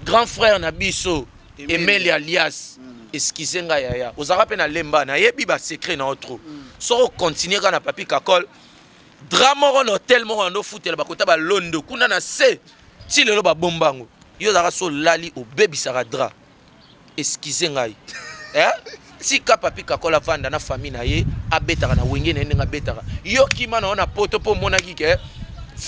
Grand frère na biso Emeli alias excusez nga yaya ozalaka mpe na lemba nayebi ba secret na yo trop mm. soki ocontinue kaka na papi kakol dra moko na hotel moko na ndofutela bakota balondo kuna na se ti lelo babomba yango yo ozalaka so olali obebisaka dra Excusez ngai eh? Tika papi kakol avanda na famille na ye abetaka na wenge na ye ndenge abetaka yo kima na yo na poto mpo omonaki ke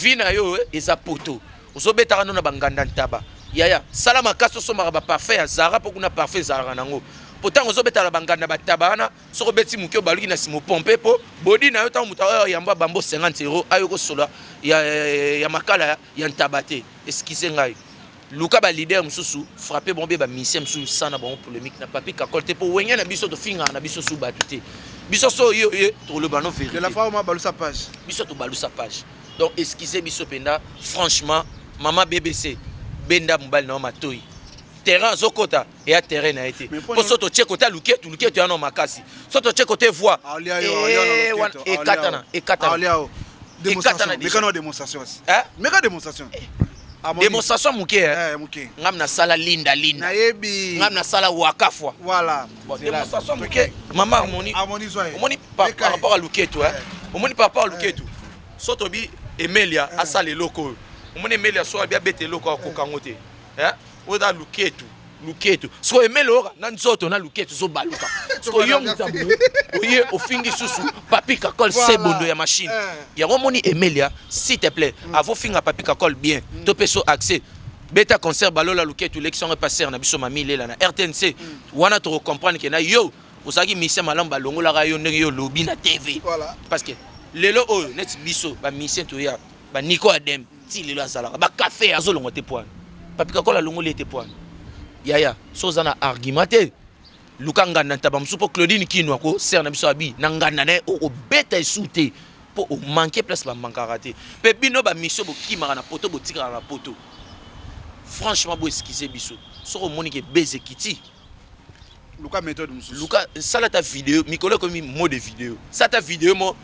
vi na yo eh, eza poto ozobetaka no na banganda ntaba yaya sala makasi osombaka baparfum ya zara mpo kuna parfum ezalaka nango mpo ntango ozobetaka na banganda bataba wana soki obeti moke obaluki na nsima opompe mpo bodi na yo ntango moto aoyo yambo abambo 50 euro ayo kosola ya, ya, ya, ya makala ya ntaba te eskize ngai Luka ba leader mususu frapper bango ba musiciens mususu sana bango polemique na papi kakol te po wenge na biso to finga na biso su batu te biso so yo yo to loba no verite de la fois ma balusa page biso to balusa page donc excusez biso penda franchement maman BBC benda mobali na matoyi terrain azokota eya terrain na ye te mpo so totye kote ya luketu luketu yano makasi so totye kote voi ekatana ekatana ekatana demonstration demonstration moke eh, ngam nasala linda linda ngam nasala wakafwa demonstration moke mama omoni omoni par rapport ya luketu eh. omoni par rapport ya luketu so tobi emelia eh. asala eloko oyo omoni emelia so abi abeta eloko akokango te oyo eza luketu luketu siko emele oyoka na nzoto na luketu zobaluka siko yo mutambo oye ofingi susu papi kakol voilà. sebondo ya machine eh. yango omoni emelia s'il te plaît mm. avofinga papi kakol bien mm. to mpe so accès beta concert balola luketu lekisi yango epaser na biso mami lela na rtnc mm. wana tokocomprendre ke na yo ozalaki mise malamu balongolaka yo ndenge yo olobi na tv voilà. parce que lelo oyo neti biso bamisien toya baniko ademe ti lelo azalaka ba cafe azo longwa te poani papi kakola alongoli ete poani yaya so oza na argument te luka nganda ntaba mosusu mpo claudine kino ako sere na biso abi na nganda na ye okobeta esu te mpo omanke place bamankaka te mpe bino bamisio bokimaka na poto botikaka na poto franchement boeskize biso soki omoni ke beze kiti luka methode mosusu luka sala ta video mikolo ekomi mot de video sala ta video mo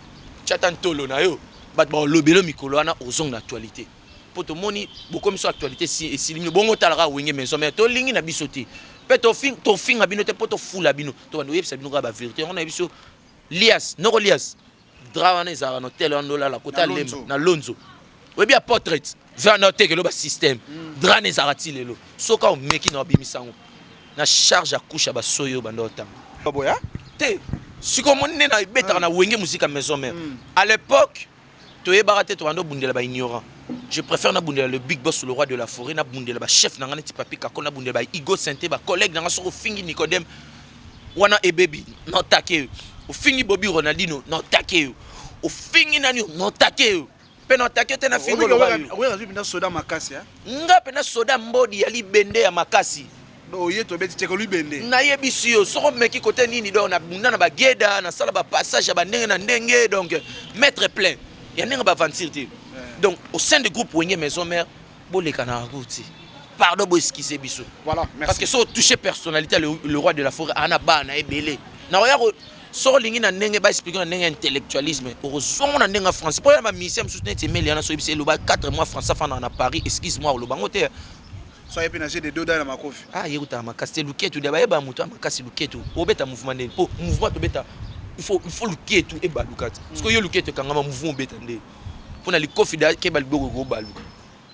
tya ta ntolo na yo bato baolobelo mikolo wana ozonga na actualité mpo tomoni bokomi so actualité esili bino bongo otalaka wenge maison mare tolingi na biso te mpe tofinga bino te mpo tofula bino tobanda oyebisa bino kaka baverité yango nayebi so lias noko lias Dra wana ezalaka na hotel wana olala kota lemba na lonzo oyebi ya portrait vanda oteke loba système mm. dra na ezalaka ti lelo soki omeki na obimisa yango na charge ya couche ya basoyi oyo banda otanga baboya te sikoyo omoni nde na ebetaka na wenge muzika maison mère mm. à l'époque toyebaka te tobanda obundela ba ignorant je préfère nabundela le big boss le roi de la forêt nabundela bachef na ngai neti papi kako nabundela ba igo sente bacollègue na ngai soki ofingi nicodème wana ebebi na otake yo ofingi bobi ronaldino na otake yo ofingi nani yo na otake yo mpe na otake yo te na fingi oloba yo okoki azwi mpenza soda makasi eh? nga mpenza soda mbodi ya libende ya makasi oye tobeti teke libende nayebisi yo soko omeki kote nini donc nabunda na bageda nasala bapassage ya bandenge na ndenge donc maître plein ya ndenge baaventure te eh. donc au sein du groupe wenge maison mère Boleka na route. Pardon bo excusez biso. Voilà, merci. Parce que so toucher personnalité le, le roi de la forêt ana ba na ebele. Na oya ko soko olingi na ndenge ba explique na ndenge ya intellectualisme okozongo na ndenge ya france mpo ya bamisien mosusu neti emeli yana soki biso eloba 4 mois france afanda na paris excuse moi oloba yango te soye mpe na jeu de doda na makofi ah ye kutaka makasi te luketu dia bayeba moto ya makasi luketu obeta mouvement ndeni mpo mouvement tobeta il faut luketu ebaluka te soki yo luketu ekangama mouvement obeta ndeni pona likofi da keba liboko ko baluka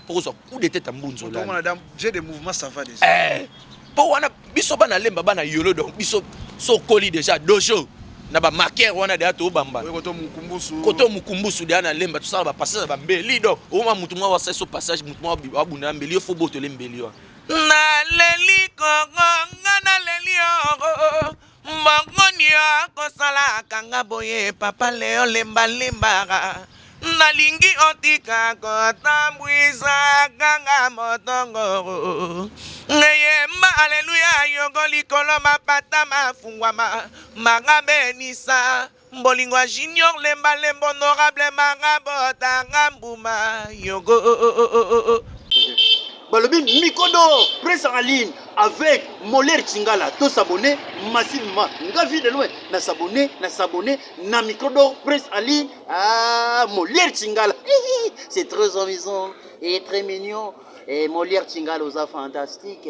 poko so coup de tête mbunzo la mona dame j'ai des mouvements ça va déjà eh po wana biso bana lemba bana yolo donc biso so koli déjà dojo na ba marqueur wana deja tobamba koto mukumbusu koto mukumbusu deja na lemba tosala ba passage ya bambeli donc oma mutu mwa wasa so passage mutu mwa abunda mbeli yo fo botole mbeli wana naleli kongo nga naleli oro Mbongo nio kosala kanga boye papa leo lemba limbaka nalingi otika kotambwisa kanga motongoro ngeyemba aleluya yoko likolo mapata mafungwama manga benisa Bolingo ya junior lemba lemba honorable manga botanga mbuma yogo oh, oh, oh, oh, oh. oh. balobi mikodo presse en ligne avec moler chingala to s'abonner massivement nga vie de loin na s'abonner na s'abonner na mikodo presse en ligne ah moler chingala c'est très amusant et très mignon et moler chingala oza fantastique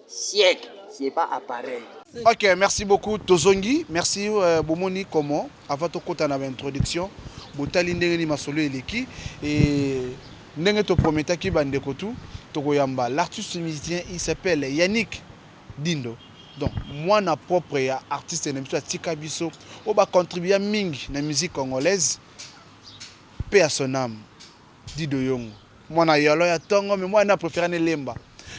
Siècle c'est pas appareil. Ok, merci beaucoup. Tozongi, merci euh, Bomoni comment avant tokota na introduction botali ndenge ni masolo eleki et ndenge to prometaki bandeko tout tokoyamba l'artiste musicien il s'appelle Yannick Dindo donc mwana propre ya artiste na biso atika biso oyo bacontribua mingi na musique congolaise paix à son âme Dit de yongo mwana yolo ya tongo mais moi na prefere ne lemba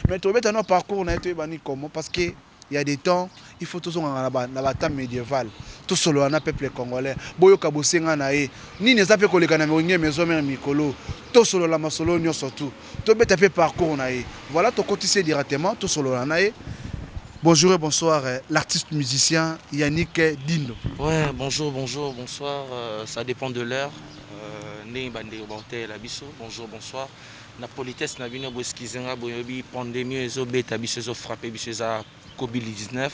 mais tobeta no parcours na ye toyeba ni comment parce que ya de temps il faut tozongaka na ba na ba temps medieval tosolola na peuple congolais boyoka bosenga na ye nini eza pe koleka na wenge maison mère mikolo tosolola masolo nionso tout tobeta pe parcours na ye voilà tokotisi ye directement tosolola na ye Bonjour et bonsoir l'artiste musicien Yannick Dindo. Ouais, bonjour, bonjour, bonsoir, euh, ça dépend de l'heure. ndenge ba ndeko ba kotalela biso bonjour bonsoir na politesse na bino bo excuse nga boyebi pandemie oyo ezo beta biso ezo frapper biso eza covid 19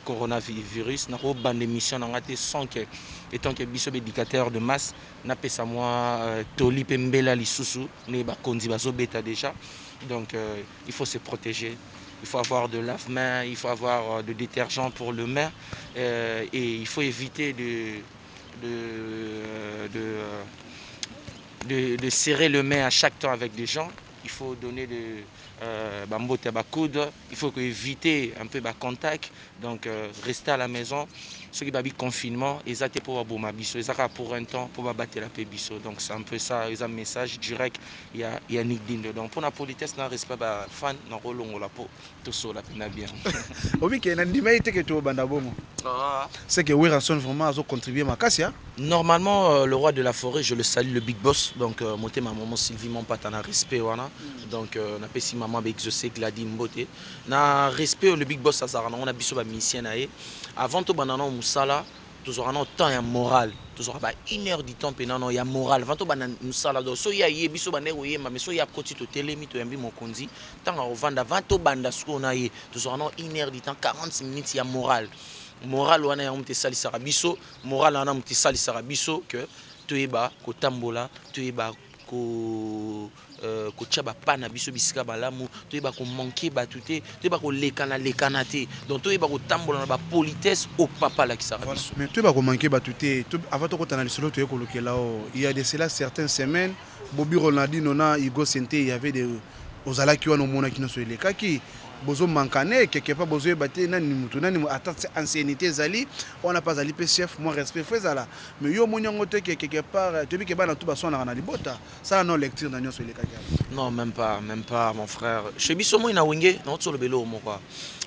coronavirus na ko bande mission na nga te sans que étant que biso b'éducateur de masse na pesa mwa euh, toli pe mbela lisusu ne ba konzi bazo beta déjà donc euh, il faut se protéger il faut avoir de lave-main, il faut avoir euh, de détergent pour le main, euh, et il faut éviter de de, de, de, de serrer le main à chaque temps avec des gens il faut donner de euh, bambote ba coude il faut éviter un peu ba contact donc euh, rester à la maison ce qui babi confinement eza te pour aboma biso eza kaka pour un temps pour babatela pe biso donc c'est un peu ça eza message direct ya ya Nick Dindo donc pour la politesse na respect ba fan na kolongola po tosola pena bien obi ke nandima ye te ke tobanda bongo ah. c'est que werrason vraiment azo contribuer makasi hein? normalement euh, le roi de la forêt je le salue le big boss donc euh, motema maman sylvie mompata na respect wana mm. donc euh, napesi maman baexauce gladi mbote na respect le big boss azalaka nango na biso bamusicien na ye avant tobanda nao mosala tozwaka nao temps ya moral tozwaka ba une heure du temps mpena nao ya moral avant tobanda mosala donc so ye aye biso bandaki koyemba mais so ye akoti totelemi toyambi mokonzi ntango akovanda avant tobanda sikoyo na ye tozwaka nao une heure du temps 40 minutes ya moral moral wana yango moto esalisaka biso moral wana moto esalisaka biso que toyeba kotambola toyeba ko euh, kotia ba pas na biso bisika malamu toyeba ko manquer batu te toyeba kolekana lekana te donc toyeba kotambola na ba politesse au papa alakisaka Voilà. biso Mais toyeba ko manquer batu te to, avant tokota na lisolo toye kolukela o il y a de cela certaines semaines Bobby Ronaldinho na Hugo Sente il y avait de ozalaki wana omonaki nyonso elekaki bozo mankane quelque part bozo yeba te nani mutu nani mu- ata se- anciennité ezali wana pe azali pe chef mwa respect fo ezala mais yo omoni yango te ke quelque part toyebi ke bana tu baswanaka na libota sala no lecture na nyonso elekaki awa non même pas même pas mon frère chez biso moi na wenge na otso lobelo moko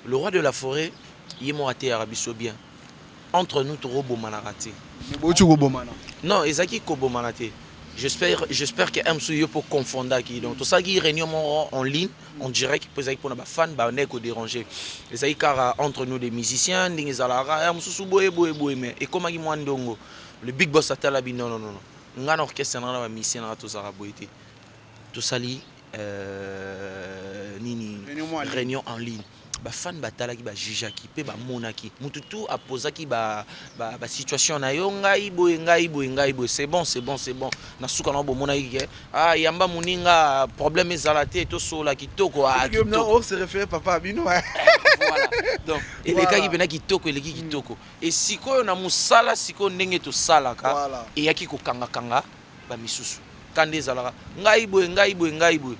le roi de la forêt ye moko ateyaka biso bien entre nous toko bomanaka te boti kobomana non ezaki kobomana te j'espère j'espère que msu yo po confondaki donc tosalaki réunion moko en ligne en direct po ezalaki mpona bafan banei koderange ezalaki kaka entre nous des musiciens ndenge ezalaka ya mosusu boye boye boye mais ekomaki mwa ndongo le big boss atalabi non non non Nga na orchestre nanga na ba musiciens nanga tozalaka boye te tosali nini reunion en ligne ba fan ba talaki ba jugeaki pe ba monaki mutu tout a pozaki ba ba situation nayo ngai boye ngai boye ngai boye c'est bon c'est bon c'est bon na suka nao bo monaki ke ah yamba muninga problème ezala te to solola kitoko ah kitoko donc elekaki pena kitoko eleki kitoko Et sikoyo na musala sikoyo ndenge tosalaka Voilà. eyaki kokanga kanga ba misusu kanda ezalaka ngai boye ngai boye ngai boye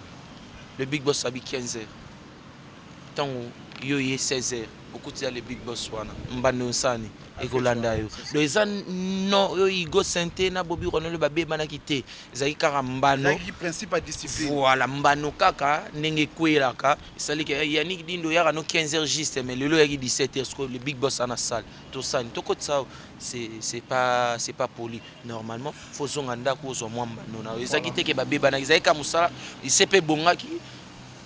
le big boss abi 15 heures ntango yo ye 16 heures okutisa le big boss wana mbanda onsani ekolanda yo do eza no yo igo sente na bobi ronelo babebanaki te ezalaki kaka mbano Ezalaki principe ya discipline. voilà mbano kaka ndenge ekweyelaka Salika ya Yannick Dindo yaka no 15 heures juste mais lelo yaki 17 heures sikoyo le big boss ana salle tosani tokotisa awa c'est c'est pas c'est pas poli normalement faut zonga ndako ozwa mwa mbano na yo ezalaki te ke babebanaki ezalaki ka mosala ise mpe ebongaki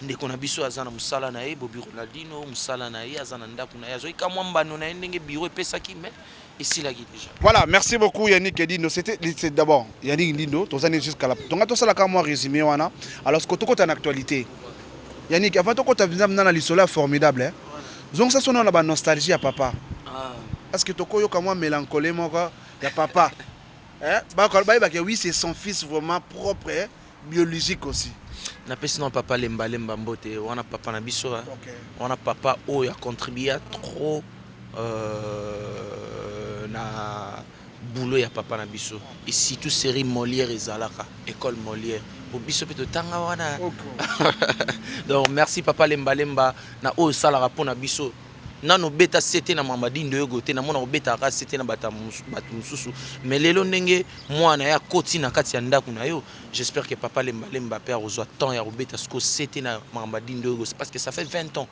ndeko na biso aza na mosala na ye bobi ronaldino mosala na ye aza na ndako na ye azwaki ka mwa mbano na ye ndenge biro epesaki mais esilaki déjà. Voilà, merci beaucoup Yannick Edindo. C'était c'est d'abord Yannick Edindo, tozani jusqu'à la. Donc tosala ka moi résumé wana. Alors ce que tokota en actualité. Yannick, avant tokota visa mnana lisola formidable. Hein? Zong ça sonne na ba nostalgie ya papa. Ah. Parce que toko yoka moi mélancolie moko ya papa. hein? Ba ko ba ke oui c'est son fils vraiment propre. Hein? Biologique aussi. Na pesi na papa lemba lemba mbote wana papa na biso hein. Okay. Wana papa oyo a contribua trop euh, na boulot ya papa na biso et surtout série Molière ezalaka école Molière po biso pe totanga wana donc merci papa lemba lemba na oyo salaka pona biso nanu obeta sete na mama dindo yogo te namona obetaka kaka sete na bato mosusu mais lelo ndenge mwana ye akoti na kati ya ndako na yo j'espère que papa lembalemba mpe akozwa temps ya kobeta siko sete na mama dindo yogo parce que ça fait 20 ans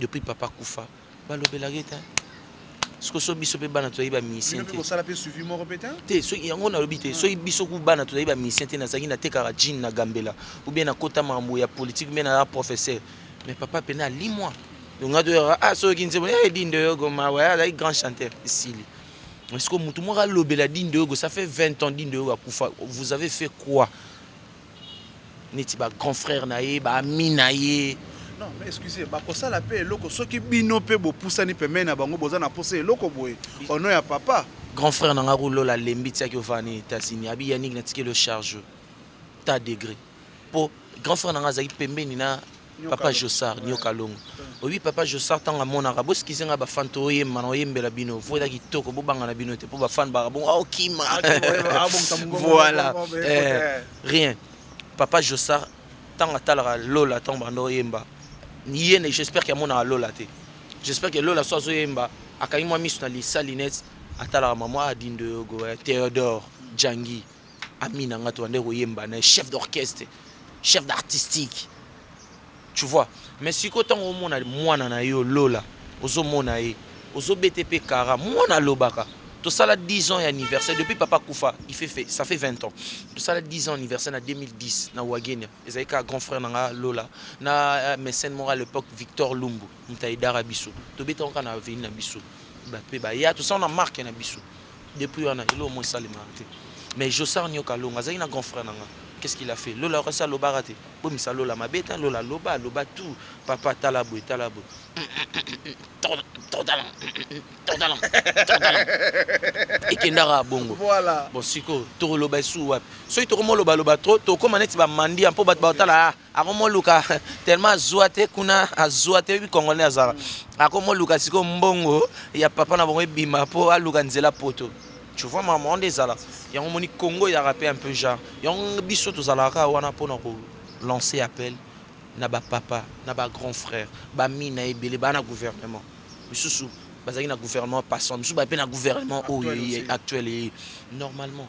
depuis papa kufa balobelaka ye te siko so biso mpe bana tozali bamisien te soki yango nalobi te soki biso ku bana tozali bamisien te nazalaki natekaka jine na gambela ou bien nakota makambo ya politique ou bien naza professeur mais papa mpena alimwa donc nga toyaka ah soki oyoki nzembo eh dindo yogo mawa eh, azalaki grand chanteur esili mais sikoyo motu moko alobela dindo yogo ça fait 20 ans dindo yogo akufa vous avez fait quoi neti ba grand frère na ye ba ami na ye non mais excusez bakosala mpe eloko soki bino mpe bopusani pembeni na bango boza na mposa eloko boye ono ya papa grand frère na nga kulola lembi tiaki ovani etats-unis abi yannick natikeli o charge ta degré po grand frère na nga azalaki pembeni na papa Jossard nyoka longo oyebi papa Jossard ntango amonaka boskize ngai bafan toyemba na oyembela bino vo eza kitoko bobanga na bino te mpo bafan baka bongo aokima ah, ah, voilà eh, rien papa Jossard ntango atalaka lola ntango banda oyemba ye ne j'espère ke amonaka lola te j'espère ke lola so azoyemba akangi mwa miso na lisa linete atalaka mama adindo yogo eh, théodore jangi ami na nga tobandaki koyemba na chef d'orchestre chef d'artistique tu vois mais siko ntango omona mwana na yo lola ozomona ye ozobete mpe kara mwana alobaka tosala 10 ans ya anniversaire depuis papa kufa il fait, fait ça fait 20 ans tosala 10 ans anniversaire na 2010 na wagenia ezalaki kaka grand frère na nga lola na euh, mécène moko à l'époque victor lumbu moto aidaka biso tobetaka kaka na aveni na biso mpe baya tosala na marke na biso Depuis wana eloko moko esalemaka te mais Jossart Nioka Alonga azalaki na grand frère na nga qu'est ce qu'il a fait Lola asi alobaka te bomisa Lola mabe te Lola aloba aloba tout papa tala boye tala boye ekendaka bongo bon siko tokoloba esu wapi soki tokomoloba loba trop tokoma neti bamandi ya mpo bato batala akomoluka tellement azua te kuna azua te oyebi congolais azalaka mm. akomoluka sikoyo mbongo ya papa na bango ebima mpo aluka nzela poto tu vois mama wana ezala yango omoni congo eyaka mpe un peu genre yango biso tozalaka wana mpo na kolancer appel na bapapa na bagrand frère bami na ebele baa na gouvernement misusu bazalaki na gouvernement passant misusu baye mpe na gouvernement oyo actuel eye normalement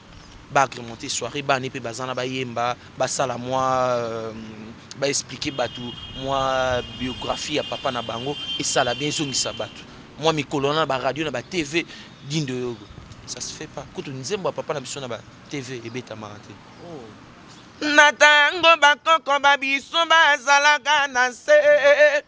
ba agremente soiree bana ne pe baza na bayemba basala mwa ba explique batu mwa biographie ya papa na bango esala bien ezongisa batu mwa mikolo wana na ba radio na ba TV dindo yogo ça se fait pas kutu nzembo ya papa na biso na ba TV ebetamaka te na tango bakoko ba biso bazalaka na se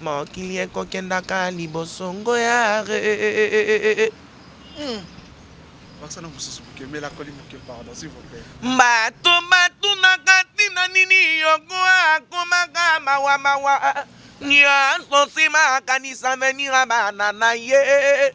Mokili ekokendaka liboso ngo yaahh. Bato batunaka tina nini yoko akomaka mawa mawa, nionso sima akanisa avenir ya bana naye.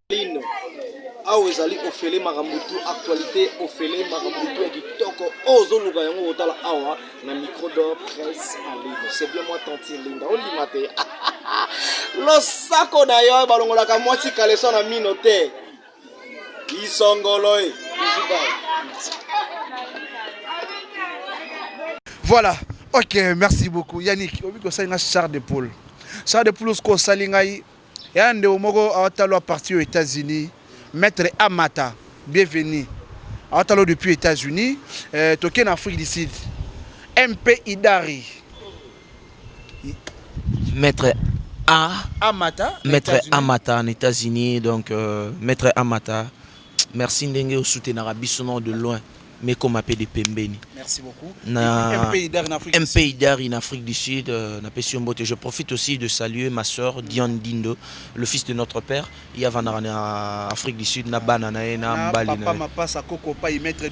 Lino, awa ezali ofele makambo tu actualité ofele makambo tu ya kitoko oyo ozoluka yango otala awa na micro d'or presse en ligne c'est bien moi tantine linda ondima te losako na yo balongolaka mwasi kaleso na mino te lisongolo e voilà ok merci beaucoup yannick obi kosali nga char de poule char de poule osiko osali ngai Yaya ndeko moko awata lwa parti oyo Etats Unis maitre Amata bienvenue awata lwa depuis Etats Unis euh, toke na Afrique du Sud MP Idari Maître A. Amata. Maître Amata en États-Unis donc euh, Maître Amata. Merci ndenge o soutenaka biso nao de loin mais koma pe de pembeni na MPIDR in Afrique du Sud na pesi yo mbote je profite aussi de saluer ma soeur Diane Dindo le fils de notre père ye avandaka na Afrique du Sud na bana na ye na mbali na ye.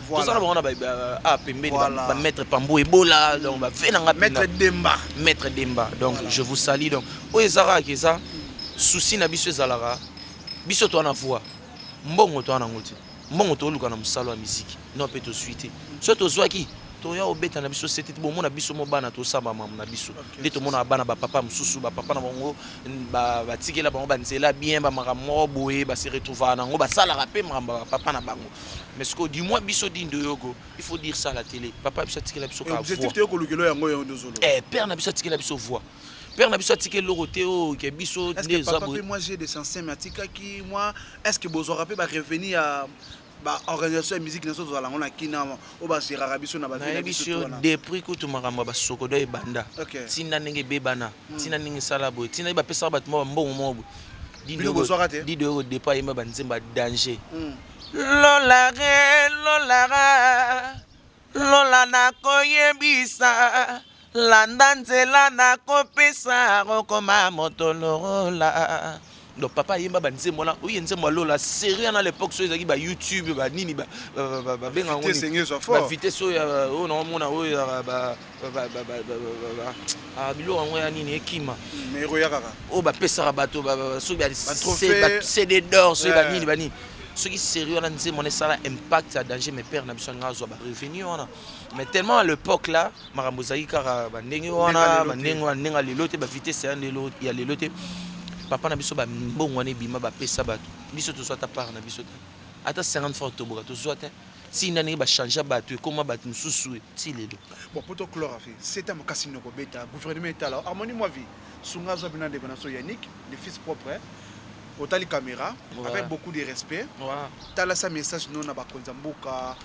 tozala bango na ah, pembeni ba maître pambo ebola donc ba fe nanga maître demba maître demba donc je vous salue donc oyo ezaka ke eza souci na biso ezalaka biso to na voix mbongo to na ngoti mbongo to luka na musalo ya musique non pe to suite so to zwaki toya obeta na biso sete bomona biso mo bana tosamba mamu na biso nde tomonaka bana bapapa mosusu bapapa na bango batikela bango banzela bien bamakambo moko boye base retrouvaka na yango basalaka mpe makambo ya bapapa na bango Mais sikoyo du moins biso din doyogo il faut dire ça à la tele papa biso atikela biso ka objectif te kolukelo yango yo ndozo lo eh père na biso atikela biso voix père na biso atikela loko te o oh, ke biso nde eza bo moi j'ai des sensibles mais atikaki moi est-ce que bozo rappeler ba revenir ya baorganisation ya musique nyonso tozala yango na kina oyo bagéraka biso na baye biso depuis kutu makambo ya basokodo ebanda ntina ndenge ebebana ntina hmm. ndenge esala boye ntina ye bapesaka bato mwa bambongo moko boye didoyoko depa yema banzemba danger hmm. Lola re lola ra lola nakoyebisa landa nzela nakopesa okoma moto lola donc papa ayemba banzembo wana oye nzembo ya lola serie wana lepoque soki ezalaki bayoutube banini babenga yango bavitese oyo oyo naomona oyo Ah, biloko yango ya nini ekima oyo bapesaka bato cd dor soki banini banini soki série wana nzembo wana esala impact ya danger mais père na biso alinga azwa barevenu wana mais tellement à l'époque là makambo ezalaki kaka bandenge wana bandenge wana ndenge ya lelo te bavitesse ya lelo te papa na biso bambongo wana ebima bapesa bato biso tozwa ata part na biso te ata 50 franc toboka tozwa te Tii na ndenge ba changea batu ekoma batu mususu tii lelo. Bon poto clore afe seta makasi noko beta gouvernement etala yo harmonie mua vie sunga azua bino na ndeko naso Yannick le fils propre otali camera avec beaucoup de respect talasa message no na bakonzi ya mboka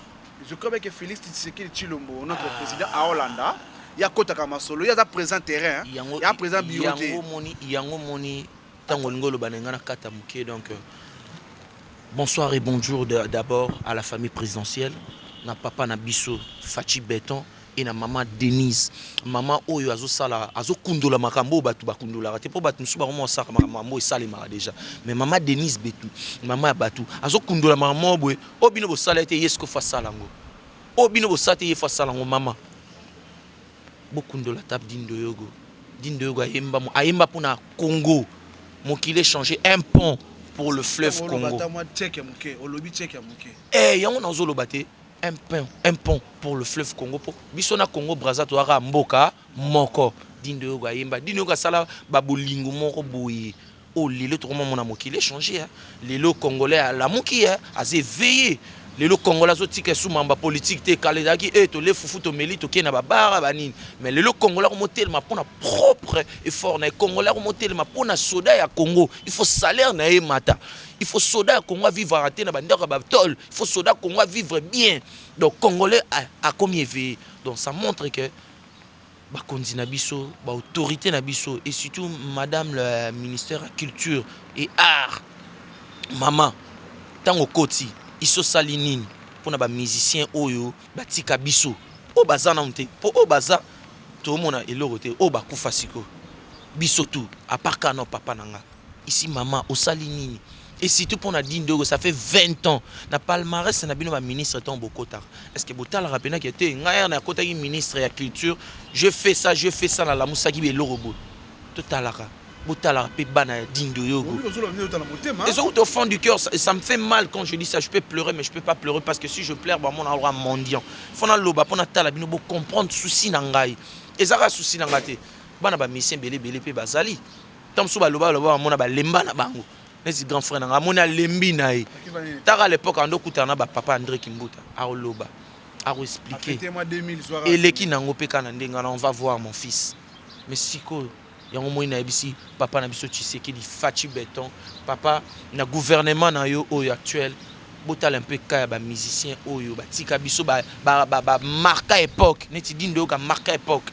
je crois bien que Felix Tshisekedi Tshilombo notre president aolanda ye akotaka masolo ye aza president terrain hein aza president bureau te. Yango omoni Tango olingi oloba naye nga nakata mukie donc bonsoir et bonjour d'abord à la famille presidentielle na papa na biso Fatshi beton et na maman Denise maman oyo azosala azokundola makambo oyo bato bakundolaka te mpo bato mosusu bango mosalaka makambo oyo esalemaka deja mais maman Denise Betu maman ya bato azokundola makambo moko boye oyo bino bosala ete ye sikoyo fo asala yango oyo bino bosala te ye fo asala yango maman Bokundola ata Dindoyogo, Dindoyogo ayemba ayemba pona Congo mokili echange un pont pour le fleuve Congo eh yango nazo loba te un pont un pont pour le fleuve Congo po biso na Congo Brazza toza kaka mboka moko Dindoyogo ayemba Dindoyogo asala ba bolingo moko boye Oyo lelo tokoma mona mokili e changer hein. Lelo congolais alamuki hein, aza eveille. Lelo congolais azo tika esu mamba politique te. Kala ezalaki eh tolie fufu tomeli toke na ba bar ba nini. Mais lelo congolais akomo telema pona propre effort naye. Congolais akomo telema pona soda ya congo. Il faut salaire naye emata. Il faut soda ya congo a vivraka te na ba ndaku ya ba tol. Il faut soda ya congo a vivre bien. Donc congolais akomi eveille. Donc ça montre que. bakonzi na biso ba autorite na biso et surtout madame la ministère ya culture et art mama ntango okoti isi osali nini mpo na bamusicien oyo batika biso oyo baza nanu te mpo oyo baza toomona eloko te oyo bakufa siko biso tu apart kaka nao papa na nga Ici maman osali nini et surtout pona di ndogo ça fait 20 ans na palmarès na bino ba ministre tango bokotaka est ce que botalaka pena ke te ngai heure nakotaki ministre ya culture je fais ça je fais ça na lamusaki ba eloko boye totalaka botalaka pe bana ya di ndoyogo ezo wuta au fond du cœur ça, ça me fait mal quand je dis ça je peux pleurer mais je peux pas pleurer parce que si je pleure ba mona aura mendiant faut na loba pona tala bino bo comprendre souci na ngai ezaka souci na ngai te bana ba musiciens bele bele pe bazali ntango mosusu baloba baloba bamona balemba na bango neti grand frère na ngai amoni alembi na ye taka à l'époque ando okutana na bapapa andré kimbuta akoloba akoexplike eleki na yango mpe kaka na ndenge wana on va voir mon fils mais sikoyo yango moi nayebisi papa na biso tshisekedi faci beton papa na gouvernement na yo oyo actuel botala mpe ka ya bamusicien oyo batika biso bamarka ba, ba, ba epoque neti dinde oyoka marka epoque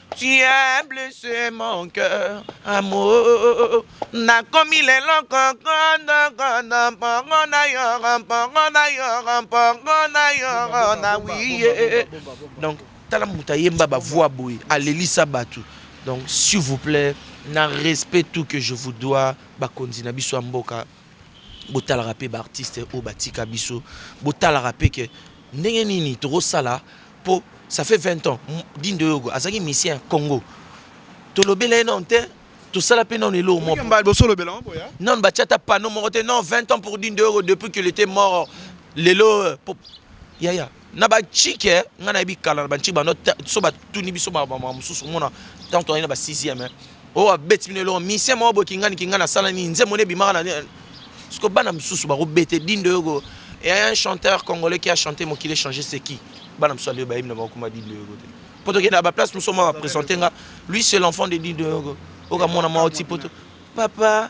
Tu as blessé mon cœur, amour. Nakomi lelo kokondo kondo mpongo na yo mpongo na yo mpongo na yo na wiye. Donc tala moto ayemba ba voix boye alelisa bato. Donc s'il vous plaît na respect tout que je vous dois bakonzi na biso ya mboka botalaka mpe baartiste oyo batika biso botalaka mpe ke ndenge nini tokosala Po ça fait 20 ans Dean Doyogo azalaki musicien ya Congo. Tolobela ye nanu te, tosala pe nanu eloko moko. Mbala liboso olobela yango boya. Nanu batia ata panneau moko te non 20 ans pour Dean Doyogo depuis qu'il était mort lelo po yaya na ba chike nga nayebi kala na ba chike bando so batuni biso makambo mosusu omona ntango tozalaki na ba sixième oyo abeti bino eloko misien moko boye kingani kingani asala nini nzembo nde ebimaka na siko bana mosusu bakobete dindo yoko e un chanteur congolais qui a chanté mokili échange c'est qui bana mosusu ande bayebi na bakokoma dindo yoko te mpo tokenda baplace mosusu mwa bapresente nga lui c'est l'enfant de dindo yoko okamona mwa oti poto papa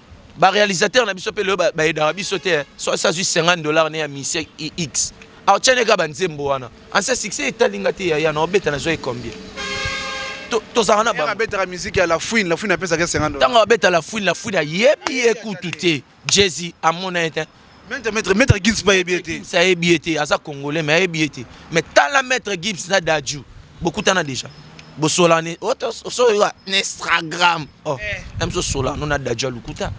ba realisateur na biso pe lelo ba edaka biso te hein. so ça juste 50 dollars ne ya mission ix alors tiens les gars ba nzembo wana en ce succès etalinga te yaya na obeta na zo combien tozalaka na babetaka miziki ya lafouine lafouine apesaka 50 ntango abeta lafouine lafouine ayebi ye kutu te jezi amona ye te Maître, maître, maître Gibbs pas ayebi ete. Ça ayebi ete, aza congolais mais ayebi ete. Mais tala maître Gibbs na Dadju, bokutana déjà. Bosola ne, oso yo na Instagram. Oh, eh. même so sola no na Dadju lukuta.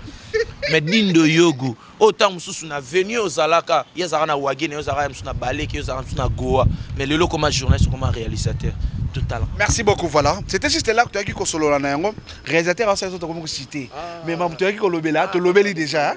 Mais dindo yogo, autant mususu na venue ozalaka, yezaka na wagene, yezaka mususu na baleke, yezaka mususu na goa. Mais lelo comme journaliste, comme réalisateur. tout à l'heure. Merci beaucoup, voilà. C'était juste là que tu as dit que solo la réalisateur, c'est ça que tu as cité. Ah. Mais tu as dit que l'obéla, tu l'obéli déjà. Hein.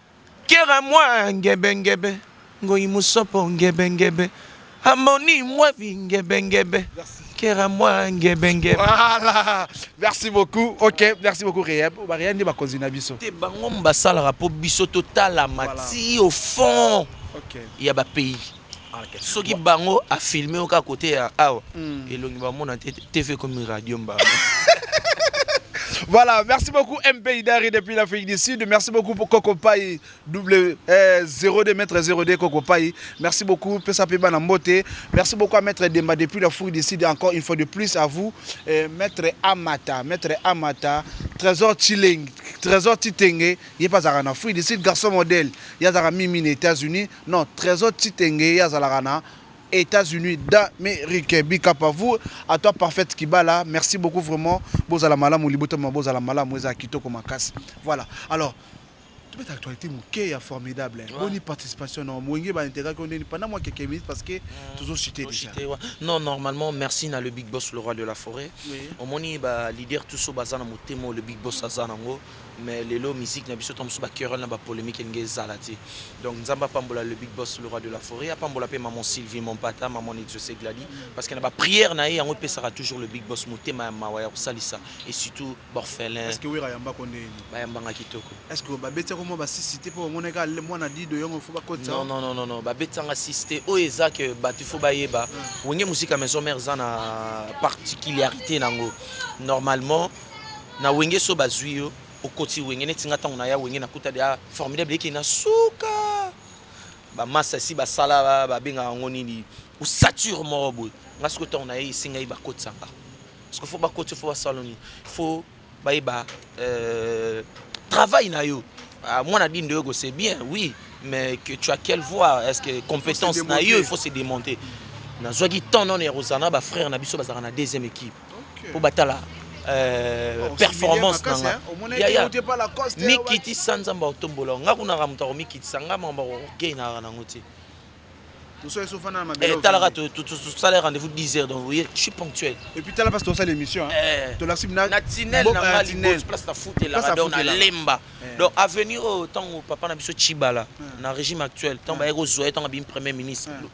Kera mwa ngebe ngebe ngoyi musopo ngebe ngebe amoni mwa vi ngebe ngebe kera mwa ngebe ngebe. Voilà. Merci beaucoup. Ok, merci beaucoup Rehab. Ba Rehab nde bakonzi na biso. Te bango basalaka po biso totala mati au fond okay. ya ba pays. soki bango a filme yo kaka kote ya awa elongi ba mona te TV ekomi radio mbanga. Voilà, merci beaucoup MP Idari depuis l'Afrique du Sud. Merci beaucoup pour Coco Pai double euh, 02 mètre 02 Coco Pai. Merci beaucoup Pesa Peba Nambote. Merci beaucoup à Maître Demba depuis l'Afrique du Sud. Encore une fois de plus à vous, euh, Maître Amata, Maître Amata, Trésor Chilling, Trésor Titenge. Il est pas en Afrique du Sud, garçon modèle. Il y a Mimi aux États-Unis. Non tresor tshitenge ye azalaka na Etats unis d'amerique big up à vous à toi parfaite kibala merci beaucoup vraiment bozala malamu libota mema bozala malamu ezala kitoko makasi voilà alors tobeta actualité moke ya formidable Ouais. boni participation na wenge ba integraki yo ndeni pendant mwa quelques minutes parce que tozo cite déjà Toshite, wa- non normalement merci na le big boss le roi de la forêt Oui. omoni ba leader tout so baza na motema oyo le big boss aza nango mais lelo musique na biso tango mosusu ba querelle na ba polemique elingi ezala te donc nzambe apambola le big boss le roi de la foret apambola pe maman Sylvie mon pata maman Nidjose Gladi parce que na ba prière na ye yango epesaka toujours le big boss motema ya mawa ya kosalisa et surtout b'orphelin Est-ce que Werra ayambako ndeni? bayambanga kitoko Est-ce que babeti yako mua ba sisi te po bamonaki kaka muana Dido yongo faut bakotisa yo? Non non non non babeti yanga sisi te oyo eza que batu faut bayeba wenge musica maison mère eza na particuliarite nango normalement Na wenge soki bazui yo okoti wenge neti nga tango naya wenge nakuta dejà formidable eke na suka ba masta esi basala ba bengaka yango nini osature moko boye nga sikoyo tango naye esi ngai bakotisa nga sikoyo faut bakoti yo faut basala nini faut bayeba euh, travail na yo ah, mwana dindo yoko c'est bien oui mais que tu as quelle voix est-ce que compétence na yo il faut se démonter nazwaki temps nono ya kozala na ba frère na biso bazalaka na deuxième équipe mpo batala euh, oh, performance na nga yaya mikitisa nzambe akotombola nga kunaka moto akomikitisa nga makambo akokei naka nango te eh, talaka tosala rendez-vous 10 heures donc voye je suis ponctuel epuis tala place tosala émission eh. tolasimna tinel na nga liboso place na futelaka donc nalemba eh. donc avenir oyo ntango papa na biso cibala na régime actuel ntango baye kozwa ye ntango abimi premier ministre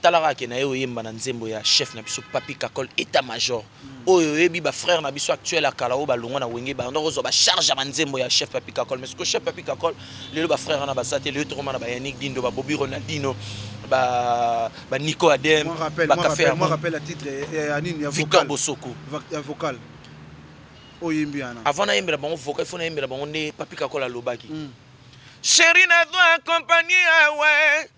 Tala kaka ke naye oyemba na nzembo ya chef na biso Papy Kakol etat major oyo oyebi ba frères na biso actuel ya kala oyo ba longwa na wenge ba yandaka kozwa ba charge ya ba nzembo ya chef Papy Kakol mais sikoyo chef Papy Kakol lelo ba frères wana baza te lelo toko mana ba Yannick Dindo ba Bobi Ronaldino ba ba Nico Adem ba Caffe Amour Victor Bosoko avant na yembela bango vocal il faut na yembela bango nde Papy Kakol alobaki cheri na zwa compagnie awa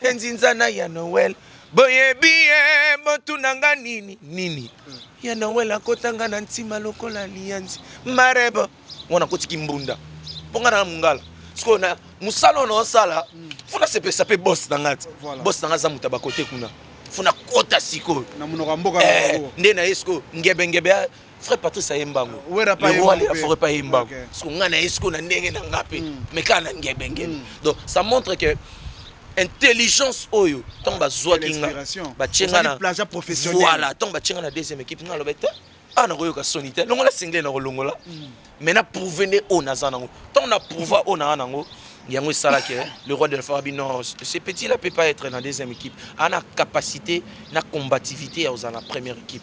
Te nzinzana ya Noël boyebi ye botuna nga nini nini ya Noël akota nga na ntima lokola liyanzi marebo mwana kotiki mbunda mpo nga na mungala sikoyo na mosala oyo naosala fo nasepesa mpe bos na nga ti bos na nga aza moto ya bakote kuna fo nakota sikoyo eh, nde na ye sikoyo ngebengebe frère patrice ayemba yango lerwale ya foret ayemba yango siko ngai na ye siko na ndenge na ngai mpe mm. mais kaka na ngebengebe mm. donc ça montre que intelligence oyo ntango ah, bazwaki nga batye nga na voilà ntango batye nga na deuxième équipe nga aloba te awa ah, nakoyoka soni te longola single nakolongola mm. mais na prouve nde oyo naza nango ntango na prouve oyo naza nango yango esalaki eh, le roi de la farabi non ce petit là peut pas être na deuxième équipe ana capacité na combativité ya kozala na première équipe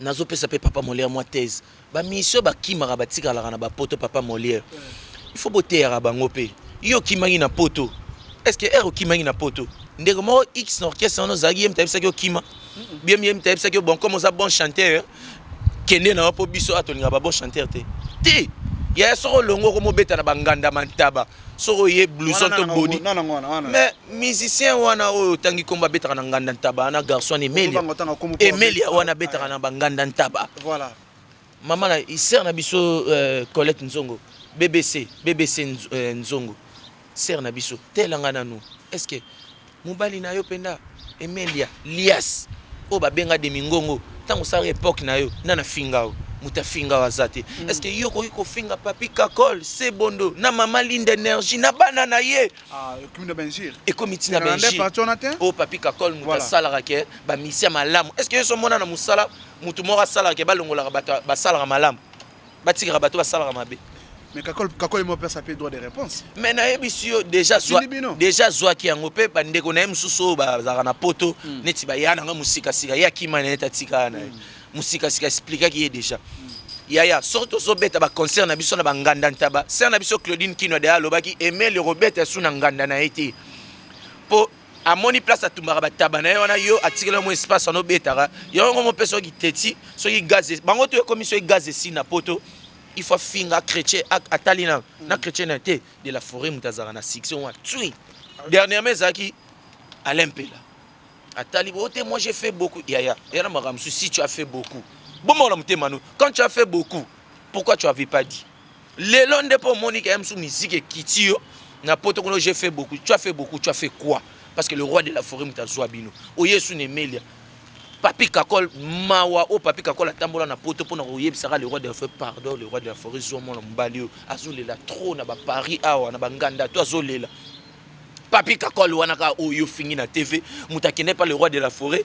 Nazo pesa pe papa Molière mwa thèse, ba musiciens ba kimaka ba tikalaka na ba poto papa Molière il faut bo teyaka bango pe. Yo okimaki na poto est ce que heure okimaki na poto ndeko moko X na orchestre wana ozalaki ye moto ayebisaki yo kima? Bien ye moto ayebisaki yo bon comme oza bon chanteur kende na yo po biso awa tolingaka ba bon chanteur te? Te! Yaya soki olongwe okomi obeta na ba nganda, ba ntaba. soki oye blouson to body mais musicien wana oyo otangi kombo abetaka na nganda ntaba wana garçon wana emelia emelia wana abetaka na banganda ntaba mama na sere na biso euh, colette nzongo bbc bbc euh, nzongo sere na biso telanga nanu est ce que Mobali na yo penda Emelia lias oyo ba benga demi ngongo tango osalaka epoque na yo nani afinga yo mutu afinga yo aza te est ce que yo okoki kofinga papy kakol sebondo na mama linde energie na bana na ye Ah, ekomi na b'injure. ekomi ti na Ezalaka nde b'injure parti wana te? oyo papy kakol mutu Voilà. asalaka ke ba misien malamu est ce que yo so omona na mosala mutu moko asalaka ke balongolaka bato ya- basalaka malamu batikaka bato basalaka mabe mais kakol kakol mo pesa pe droit de réponse mais na yebisi yo déjà zwa déjà zwa ki yango pe ba ndeko na ye mususu ba zaka na poto mm. neti ba yana nga musika sika ya kima na eta tika na ye mm. musika sika explique ki ye déjà mm. yaya soki tozobeta baconcert na biso na banganda ntaba ser na biso claudine kino de alobaki emeli kobeta esu na nganda na ye te mpo amoni place atumbaka bataba na ye wana yo atikela yo mwa espace wana obetaka yango ngo mopesa yo kiteti soki gaz e- bango to ekomi soki gaz esi na poto il faut afinga chrétien a- atali na na chrétien na ye te de la forêt moto azalaka na succès wana tsui dernièrement ezalaki alain mpela atali bo te moi j'ai fait beaucoup yaya yana makambo mosusu si tu as fait beaucoup bomona motema no quand tu as fait beaucoup pourquoi tu avais pas dit lelo nde mpo omoni ke msu miziki ekiti yo na poto kuna je fait beaucoup tu as fait beaucoup tu as fait quoi parce que le roi de la forêt moto azwa bino oye esu na emelia papi kakol mawa oyo papi kakol atambola na poto mpo na koyebisaka le roi de la forêt pardon le roi de la forêt zwa mwana mobali oyo azolela trop na baparis awa na banganda to azolela papi kakol wana kaka oyo ofingi na tv moto akende pa le roi de la forêt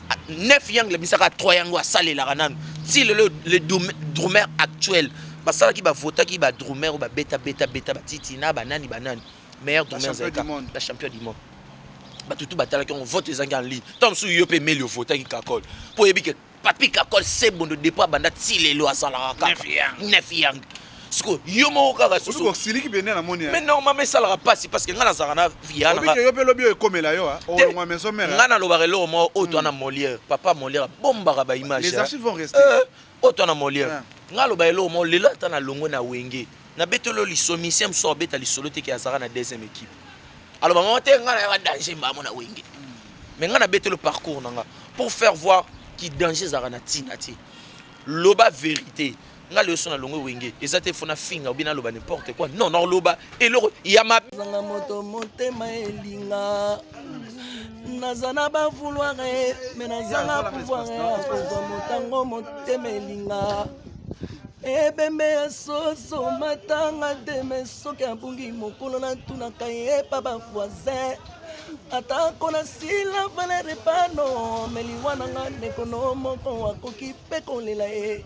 neuf yangle bisaka trois yango asalelaka nanu ti lelo le drumeur actuel basalaki bavotaki ba drumeur babeta beta beta batiti na banani banani meilleur drumeur zaika na champion du monde bato tu batalaki yango vote ezangi en ligne ntango mosusu yo mpe emeli ovotaki kakol mpo oyebi ke papi kakol sebondo depo abanda ti lelo azalaka kaka neuf yangle siko yo moko kaka susu osiliki bende na moni mais normalement esalaka pasi parce que nga nazalaka na via na yo pe lobi ekomela yo hein olongwa maison mère nga na lobaka eloko moko oyo twana hmm. Molière papa Molière bombaka ba image les hein. archives vont rester euh, oyo twana Molière hein. nga loba eloko moko lelo ata na longwe na wenge na betolo lisomi sim so beta lisolo te ke azalaka na deuxième équipe alors maman te nga na ya danger mbamo na wenge mais nga na betolo parcours na nga pour faire voir ki danger ezalaka na tina te loba vérité nga leyo so na longwe wenge eza te fo na finga obi naloba n'importe quoi non naoloba eloko ya mabanga moto motema elinga naza na bavouloire me nazanga pouvoir ya kozwa motango motema elinga ebembe ya soso matanga te me soki abungi mokolo natunaka ye pa bavoisin atako nasila valere pano me liwa na nga ndeko no moko akoki mpe kolela ye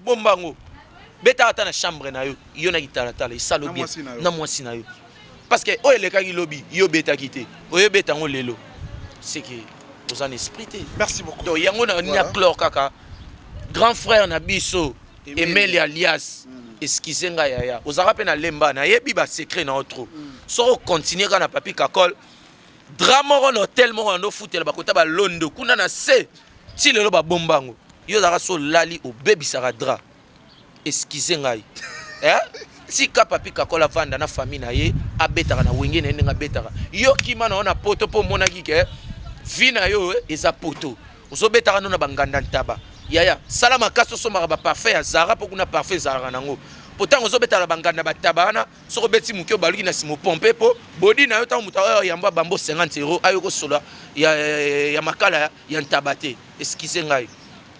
bomba yango beta ata na chambre na yo yo na kitalatala esalo bien na mwasi na yo parce que oyo elekaki lobi yo obetaki te oyo obeta yango lelo seke oza na esprit te merci beaucoup donc yango na nini aclore kaka grand frère na biso emeli alias mm. excuse nga yaya ozalaka mpe na lemba nayebi basecret na yo trop mm. soko continue kaka na papi kakol dra moko na hotel moko na ndofutela bakota balondo kuna na se ti lelo babomba yango yo ozalaka so olali obebisaka dra eskize ngai eh? tika papi kakola vanda na famille na ye abetaka na wenge na ye ndenge abetaka yo kima na yo na poto mpo omonaki ke vi na yo eh, eza poto ozobetaka no na banganda ntaba yaya sala makasi osomaka baparfum ya zara mpo kuna parfum ezalaka nango mpo ntango ozobetala banganda bataba wana soki obeti moke obaluki na nsima opompe mpo bodi na yo ntango moto aoyo yamba bambo 50 euro ayo kosola ya, ya, ya makala ya ntaba te eskize ngai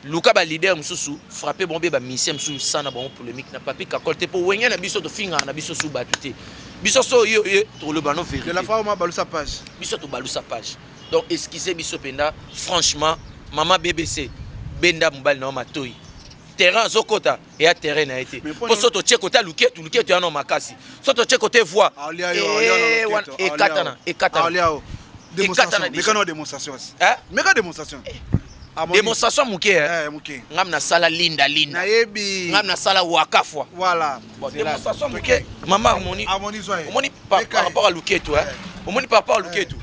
luka balider mosusu frappe bango mpe bamisien mosusu sana bango polémique na papi kakol te mpo wenge na biso tofingaka na biso su bato te biso so oyo oye toloba no vérité biso tobalusa page donc eskize biso mpenza franchement mama bbc benda mobali na yo matoi terrain azokota eya terrain na ye te mpo so totye kota luketu luketu yano makasi so totye kote voi ekatana ekatana demonstration moke ngam nasala linda linda ngam nasala wakafwa demonstration moke mama omoni omoni par rapport ya luketu omoni par rapport ya luketu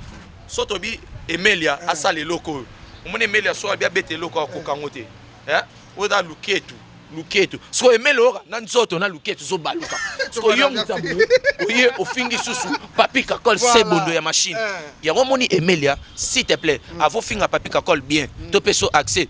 so tobi emelia asala eloko oyo omoni emelia so abi abeta eloko akoka yango te eh oyo da luketu luketu siko emele oyoka na nzoto na luketu zobaluka siko yo mutambu oye ofingi susu papi kakol se bondo ya machine eh. yango omoni emelia s'il te plaît mm. avo finga papi kakol bien mm. to peso accès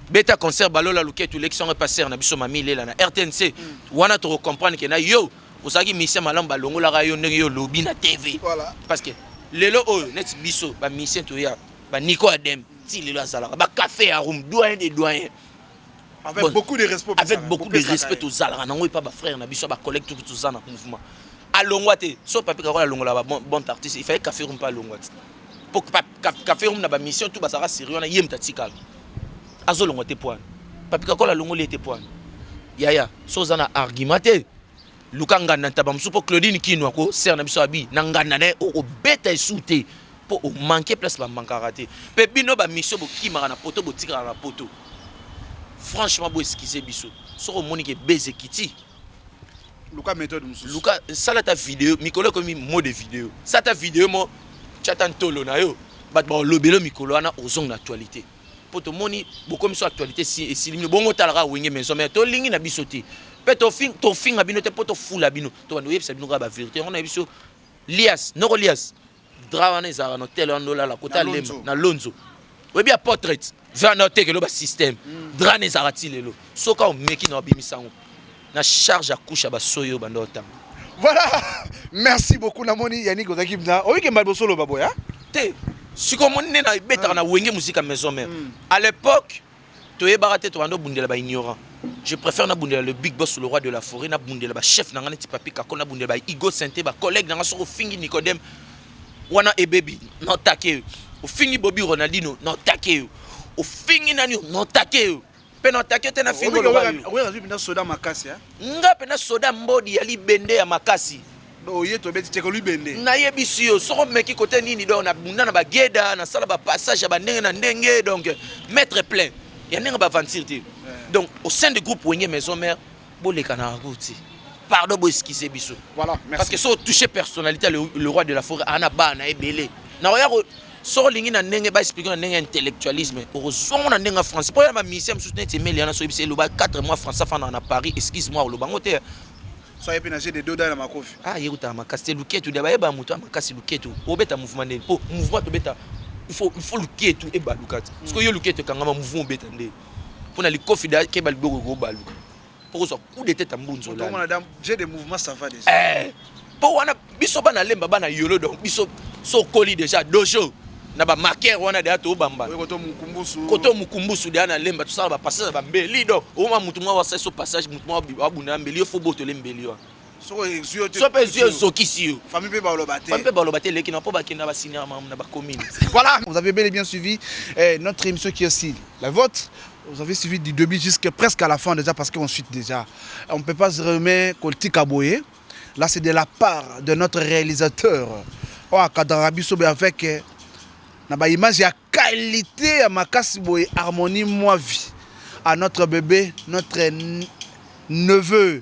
beta concert balola luketu elekisi yango epaser na biso mami lela na rtnc mm. wana tokocomprendre ke na yo ozalaki mise malamu balongolaka yo ndenge yo olobi na tv parce que lelo oyo neti biso bamisien toya baniko adem ti lelo azalaka ba café ya room doyen de doyen avec bon, beaucoup de respect avec beaucoup de respect tozalaka nango epa bafrère na biso bacollègue toki toza na mouvement alongwa te so papi kakola alongola babon artiste ifai café room mpe alongwa te mpo café room na bamission to bazalaka sérieux wana ye moto atikala azolongwa te poani papi kakola alongoli ye te poani yaya so oza na argument te Luka nganda ntaba mosusu mpo Claudine Kino ako sere na biso abi na nganda na ye okobeta esu te mpo omanke place bamankaka te mpe bino bamisio bokimaka na poto botikaka na poto franchement bo eskize biso soki omoni ke base ekiti luka methode mosusu luka sala ta video mikolo ekomi mo de video sala ta video mo tya ta ntolo na yo bato bakolobelo mikolo wana ozongi na actualité mpo tomoni bokomi so actualité esili bino bongo otalaka wenge maison mère tolingi na biso te mpe tofinga bino te mpo tofula bino tobanda oyebisa bino kaka baverité yango nayebi biso lias noko lias dra wana ezalaka na hotel wana olala kota lemba na lonzo oyebi ya portrait vana otekelo basystème hmm. dra na ezalaka ti lelo soki omeki na obimisa yango na charge ya couche ya ba soyo banda otanga voilà merci beaucoup namoni Yannick ozaki mna oyike mbali bosolo ba boya te siko moni nde na ebetaka na wenge musika maison mère mm. à l'époque toyebaka te tobanda obundela ba ignorant je préfère nabundela le big boss le roi de la forêt nabundela ba chef na ngai neti papi kako nabundela ba igo sente ba collègue na ngai soki ofingi nicodème wana ebebi notake yo ofingi bobi ronaldino notake yo ofingi nani yo notake yo mpe na atake te na fingo loba yo oyo azwi mpenza soda makasi nga mpenza soda mbodi ya libende ya makasi oye tobeti teke libende nayebisi yo soko meki kote nini donc nabunda na bageda nasala bapassage ya bandenge na ndenge donc maître plein ya ndenge baventure te donc au sein du groupe wenge maison mère Boleka na route. Pardon, bo excusez biso. Voilà, merci. Parce que so toucher personnalité le, le roi de la forêt ana ba na ebele. Na oya ko so lingi na ndenge ba expliquer na ndenge intellectualisme. Oko zongo na ndenge français. Po ya ba musiciens mususu neti emeli yana so ebise loba 4 mois français fana na Paris. Excuse-moi, loba ngo te. So yepe na jeu de doda na makofi. Ah, yekuta makasi te luketu dia ba yeba mutu makasi luketu. Obeta mouvement nde. Po mouvement to beta il faut il faut luketu e balukati. Mm. Parce que yo luketu kangama mouvement obeta nde. pona likofi da keba liboko ekobaluka mpo kozwa coup de tete mbunzola eh, mpo wana biso bana lemba bana yolo donc biso so okoli déjà dojo na bamarkere wana deya tobambana koto mokumbusu deya na lemba tosala bapassage ya bambeli donc oma motu mwa wasali so passage motu mwa abunda ya mbeli yo fo botole mbeli wana soki ezwi yo te soki mpe ezwi yo ezokisi yo famille mpe baloba te famille mpe baloba te eleki na mpo bakenda basignala mamu na bacommune voilà vous avez bel et bien suivi eh, notre émission qui est aussi la vôtre vous avez suivi du début jusqu'à presque à la fin déjà parce qu'on suit déjà on ne peut pas se remettre koltika boye là c'est de la part de notre réalisateur oyo oh, akadraka biso boye avec eh, na baimage ya qualité ya makasi boye harmonie moi vie à notre bébé notre neveu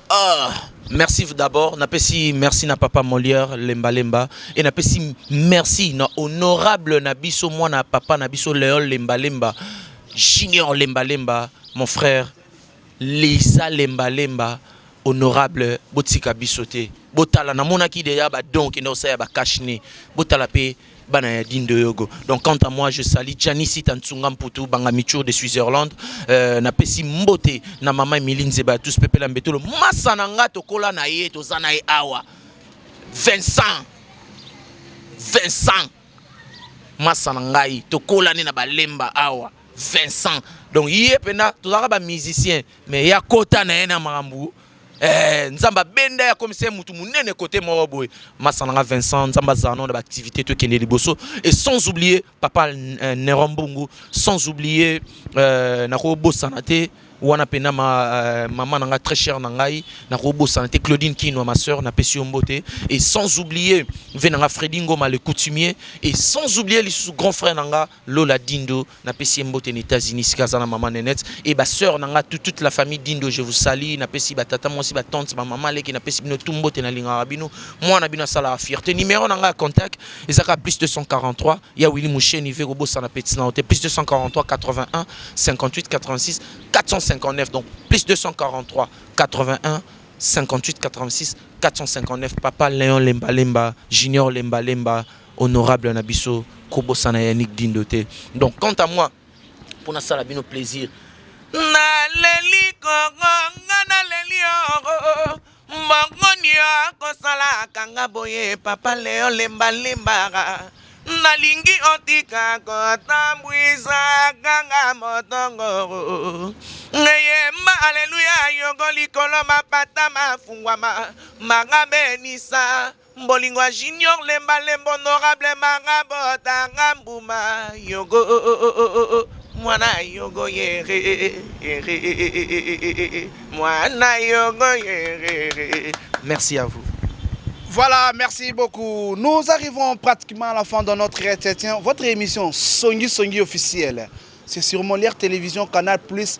Ah, merci d'abord. Napesi merci na papa Molière Lemba Lemba et napesi merci na honorable na biso mwana papa na biso Léon Lemba Lemba Junior Lemba Lemba mon frère Lisa Lemba Lemba honorable botika biso te botala namonaki deja badon kende kosala ya bakashne botala mpe bana ya Dindoyogo. Donc quant à moi, je salue Gianni Sita Nsunga Mputu, Banga Michur de Switzerland. Euh, na pesi mbote na mama Emily Nzeba, tous pepela mbetolo. Masa na nga tokola na ye, toza na ye awa. Vincent. Vincent. Masa na ngai, tokola ne na balemba awa. Vincent. Donc ye pena tozaka ba musicien mais ya kota na ye na makambo Eh, nzambe abenda ya komisa ye motu monene kote moko boye masa nanga vincent nzambe azala nao na baactivité tokende liboso et sans oublier papa euh, neron mbungu sans oublier euh, nakobosana te wana mpena ma, euh, mama na ngai très cher na ngai nakobosana te claudine kinwa ma soeur napesi yo mbote et sans oublier ve na ngai fredi ngoma le coutumier et sans oublier lisusu grand frère na ngai Lola Dindo na pesi ye mbote na Etats Unis esika aza na maman Nenette et ba soeurs na nga tout toute la famille Dindo je vous salue na pesi ba tata mwasi ba tantes ba maman leki na pesi bino tout mbote na lingaka bino mwana bino asalaka fierte numero na nga ya contact eza kaka plus 243 ya Willy Musheni ve kobosana petit na yo te plus 243 81 58 86 459 donc plus 243 81 58 86 459 papa Leon Lemba Lemba Junior Lemba Lemba Honorable na biso ko bosana Yannick Dindo te donc quant à moi pour na sala bino plaisir na leli koko nga na leli oro mbongoni akosala kanga boye papa leo lemba limbara nalingi otika kotambwisa kanga motongoro ngeyemba aleluya yoko likolo mapata mafungwama manga benisa Bolingo ya junior lemba lemba honorable manga bota nga mbuma yogo oh, oh, oh, oh, oh. mwana yogo yere yere mwana yogo yere merci à vous Voilà, merci beaucoup. Nous arrivons pratiquement à la fin de notre entretien. Votre émission Songi Songi officielle, c'est sur Molière Télévision Canal Plus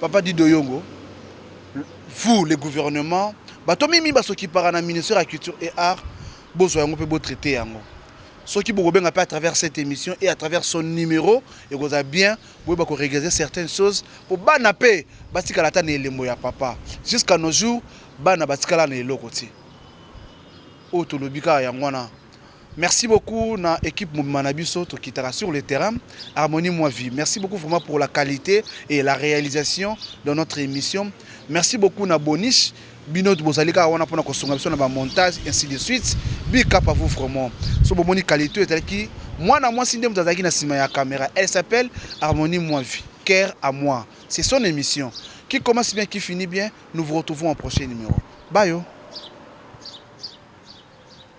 Papa Dido Yongo, vous le gouvernement, bato mimi ba s'occupaka na ministère ya culture et art, bozwa yango mpe bo traiter yango. Soki bokobenga mpe à travers cette emission et à travers son numero, ekozala bien boyeba ko regreser certaines choses mpo bana mpe batikala ata na elembo ya papa. Jusqu'à nos jours, bana batikala na eloko te. Oyo tolobi kaka yango wana, Merci beaucoup na equipe mobima na biso tokitaka sur le terrain harmonie moi vie merci beaucoup vraiment pour la qualité et la réalisation de notre émission merci beaucoup na boniche bino bozali kaka wana mpona kosunga biso na bamontage ainsi de suite big up à vous vraiment so bomoni qualité oyo ezalaki mwana mwasi nde moto azalaki na nsima ya caméra elle s'appelle harmonie moi vie cœur à moi c'est son émission qui commence bien qui finit bien nous vous retrouvons en prochain numéro bayo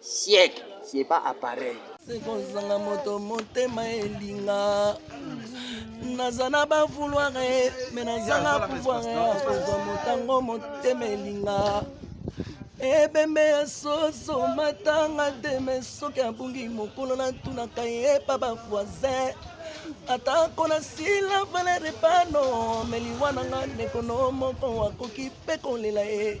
siècle c'est pas appareil sekozanga moto motema elinga naza na bavouloire me nazanga pouvoir ya kozwa motango motema elinga ebembe ya soso matanga te me soki abungi mokolo natunaka ye epa bavoisin atako nasila valere pano me liwa na nga ndeko no moko akoki mpe kolela ye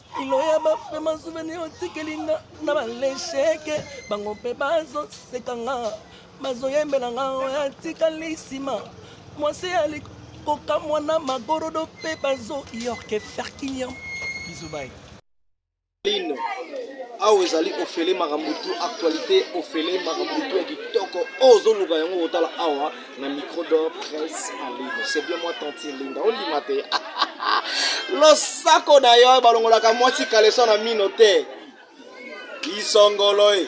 kilo ya bafema souvenir otikeli nga na balesheke bango mpe bazoseka nga bazoyembela nga oyo atikali nsima mwasi ya likoka mwana magorodo mpe bazoyorke ferkiniam bizubai lino awa ezali ofele makambo tu actualité ofele makambo tu ya kitoko oyo ozoluka yango kotala awa na micro d'or presse en ligne c'est bien moi tantine linda ondima te losako na yo balongolaka mwasi kaleso na mino te isongolo e